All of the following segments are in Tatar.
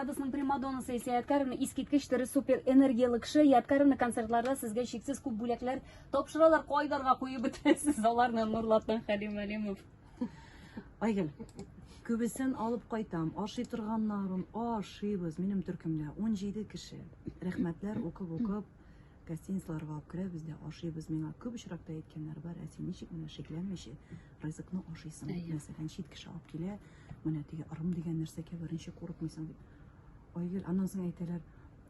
Абысның примадонасы исә Яткаревна искиткеч тере супер энергияле кеше. Яткаревна концертларда сезгә шиксез күп бүләкләр тапшыралар. Кайдарга куеп бетерәсез аларны Нурлатан Хәлим Әлимов. Айгөл, күбесен алып кайтам. Ашый торганнарын ашыйбыз. Минем төркемдә 17 кеше. Рәхмәтләр укып-укып гостиницаларга алып керәбез дә ашыйбыз. Миңа күп очракта әйткәннәр бар, ә син ничек менә шикләнмичә ризыкны ашыйсың? Мәсәлән, чит кеше алып килә, менә теге ырым дигән нәрсәгә беренче курыкмыйсың дип. Айгөл, аннан соң әйтәләр,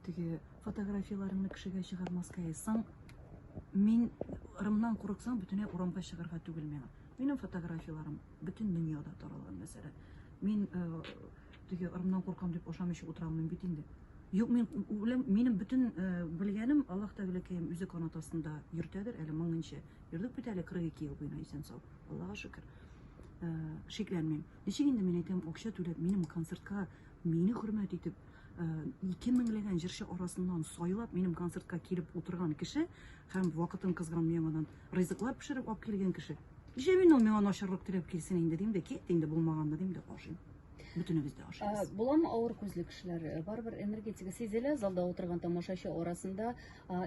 теге фотографияләреңне кешегә чыгармаска ясаң, мин ырымнан курыксаң, бөтенләй урамга чыгарга түгел миңа. Минем фотографияләрем бөтен дөньяда таралган мәсәлән. Мин э, Теге ырымнан куркам дип ашамыйча утыра алмыйм бит инде. Юк, мин үләм, минем бөтен э, белгәнем Аллаһ Тәгаләкәем үзе канат астында йөртәдер, әле моңынча. Йөрдек бит әле 42 ел буена исән сау. Аллаһка шөкер. Э, шикләнмим. Ничек инде мин әйтәм, акча түләп, минем концертка мине хөрмәт итеп, Э, ике меңләгән җырчы арасыннан сайлап минем концертка килеп утырган кеше һәм вакытын кызган яңадан ризыклар пешереп алып килгән кеше Нишләп мин ул миңа начарлык теләп килсен инде дим дә, кит инде булмаганны дим дә ашыйм. Бөтенебез дә ашыйбыз. Буламы авыр күзле кешеләр? Э, барыбер энергетика сизелә, залда утырган тамашачы арасында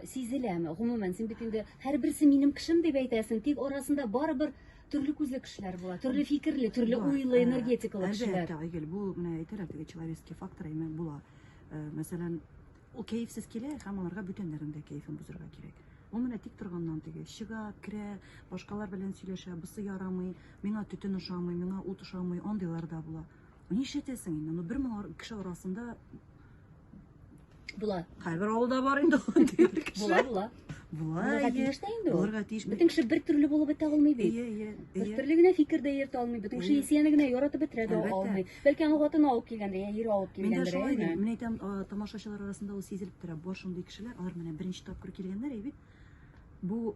сизеләме? Гомумән, син бит инде һәрберсе минем кешем дип әйтәсең, тик арасында барыбер төрле күзле кешеләр була, төрле фикерле, төрле уйлы, э, энергетикалы кешеләр. Әлбәттә, Айгөл, бу менә әйтәләр теге человеческий фактор, әйме була. Э, мәсәлән, Ул кәефсез килә һәм аларга бүтәннәрнең дә кәефен бозырга кирәк. Ул менә тик торганнан теге чыга, керә, башкалар белән сөйләшә, бусы ярамый, миңа төтен ошамый, миңа ут ошамый, андыйлар да була. Ну нишләтәсең инде, ну бер мең ар- кеше арасында Була. кайбер авылда бар инде андый бер кеше. Була, була. Була, Булырга әйе. тиеш тә инде ул. Булырга тиеш. Бөтен кеше бер төрле булып бетә алмый бит. Әйе, әйе, Бер әйе. төрле генә фикер дә йөртә алмый, бөтен кеше Әйе. исәне генә яратып бетерә дә Әлбәттә. алмый. Бәлки аның хатыны алып килгәндер, я ире алып Мин дә килгәндер. шулай әйме? дим. Мин әйтәм, а, тамашачылар арасында ул сизелеп тора. Бар шундый кешеләр, алар менә беренче тапкыр килгәннәр, әй бит. Бу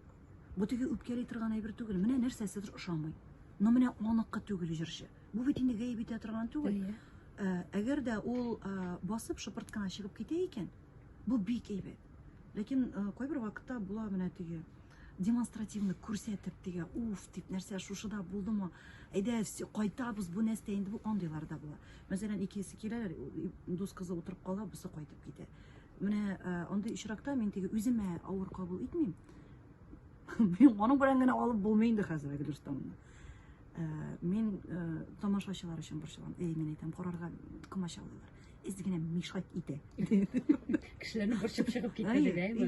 бу теге үпкәли торган әйбер түгел. Менә нәрсәседер ошамый. Но менә аныкы түгел җырчы. Бу бит инде гаеп итә торган түгел. Әйе. Ә, Әгәр дә ул а, басып шыпырт кына чыгып китә икән, бу бик әйбәт. Ләкин а, кайбер вакытта була менә теге демонстративно күрсәтеп тегә уф дип нәрсә шушыда булдымы әйдә кайтабыз бу нәрсә инде бу андыйлар да була мәсәлән икесе киләләр дус кызы утырып кала бусы кайтып китә менә андый очракта мин теге үземә авыр кабул итмим мин аның белән генә алып булмый инде хәзер әлеге дөрестә моны мин тамашачылар өчен борчылам әй мин әйтәм карарга комачаулыйлар эз генә мешать итә кешеләрне борчып чыгып китә дип әйме